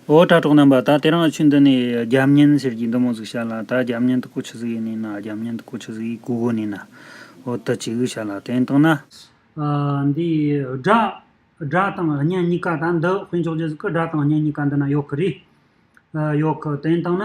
འོ་དྲ་གྲོགས་རྣམ་པ་ད་དེ་རང་ལ་ཆུ་འདི་ནས་རྒྱ་མཉན་ཟེར་གྱི་འདུག་མོ་ཟིག་བྱ་ལ་ད་རྒྱ་མཉན་དུ་ཀོ་ཆུ་ཟིག་ཡེ་ནས་ན་རྒྱ་མཉན་དུ་ཀོ་ཆུ་ཟིག་ཡེ་གུ་གུ་ནས་ན་འོ་དི་ཅི་གུ་བྱ་ལ་དེ་ནི་དང་ན། འདི་སྒྲ་སྒྲ་དང་བརྙན་གཉིས་ཀ་ད་འདི་དཔེ་འཇོག་རྗེས་སུ་ཀི་སྒྲ་དང་བརྙན་གཉིས་ཀ་འདི་ན་ཡོག་གི་རེད། ཡོག་གི་དེ་ནི་དང་ན།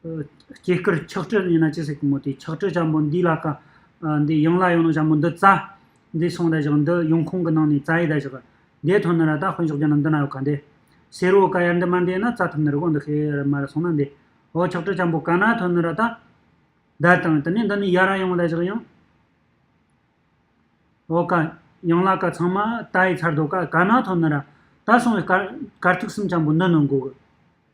སྐྱེས་སྐར་ཆགས་བྲལ་ཡིན་ན་ཅི་ཟེར་གི་མོ་དེ་ཆགས་བྲལ་བྱམས་པོ་འདི་ལ་དཀའ། འདི་ཡང་ལ་ཡོང་ན་བྱམས་པོ་འདི་རྩ། འདི་སོང་རེ་བཞག་འདི་ཡོང་ཁོང་གི་ནང་ནས་རྩ་ཡི་ད་བཞག། འདས་ཐོན་ནི་ར་ད་དཔོན་ཤོག་རྒྱ་ནག་འདི་ན་ཡོད་ག་འདས། ཟེར་འོ་ཀ་ཡར་འདི་མ་འདས་ན་རྩ་ཐུབ་ནི་རི་གོང་འདི་ཤི་ཡར་མར་སོང་ན་འདས། འོ་ཆགས་བྲལ་བྱམས་པོ་ག་ན་ཐོན་ནི་ར་ད། བརྡལ་དང་དེ་ནས་འདི་ནས་ཡར་ར་ཡོང་ད་བཞག་ཡང། འོ་ཀ། ཡང་ལ་ཀ་ཚང་མ་རྟ་ཡི་ཚར་དོ་ཀ་ག་ན་ཐོན་ནི་ར། ད་སོང་བའི་སྐར། སྐར་ཐུག་གསུམ་བྱམས་པོ་འདི་ནི་འགོག།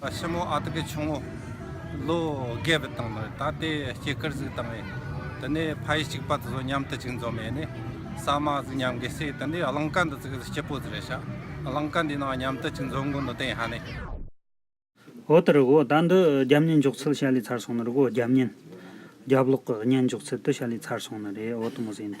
ཕྱི་མོ་ཨ་ཏི་ཀི་ཆུང་ངུ་ལོ་བརྒྱད་པའི་སྟེང་ནས་ད་ལྟའི་སྐྱེས་སྐར་གཟིགས་དང་ཡིན། དེ་ནས་ཕ་ཡིས་གཅིག་པ་དེ་ཚོ་མཉམ་དུ་གཅིག་འཛོམས་ཡས་ནས་ཟ་མ་ཟིག་མཉམ་གྱིས་བསྲེས་དེ་ནས་རླངས་ཀ་འདི་ཚོ་གིས་སྐྱིད་པོ་ཟིག་རེད་བྱ། རླངས་ཀ་འདིའི་ནང་མཉམ་དུ་གཅིག་འཛོམས་དགོས་འདུག་དེ་ཡང་ནས། འོ་ད་རི་བོ་ད་འདི་རྒྱབ་གཉན་འཇོག་ཚུལ་བྱ་ལས་ཚར་སོང་ནི་རི་བོ་རྒྱབ་གཉན། རྒྱབ་ལོག་གི་གཉན་འཇོག་ཚུལ་དེ་བྱ་ལས་ཚར་སོང་ནི་རེད་འོ་ད་མོ་ཟེ་ཡིན་ད།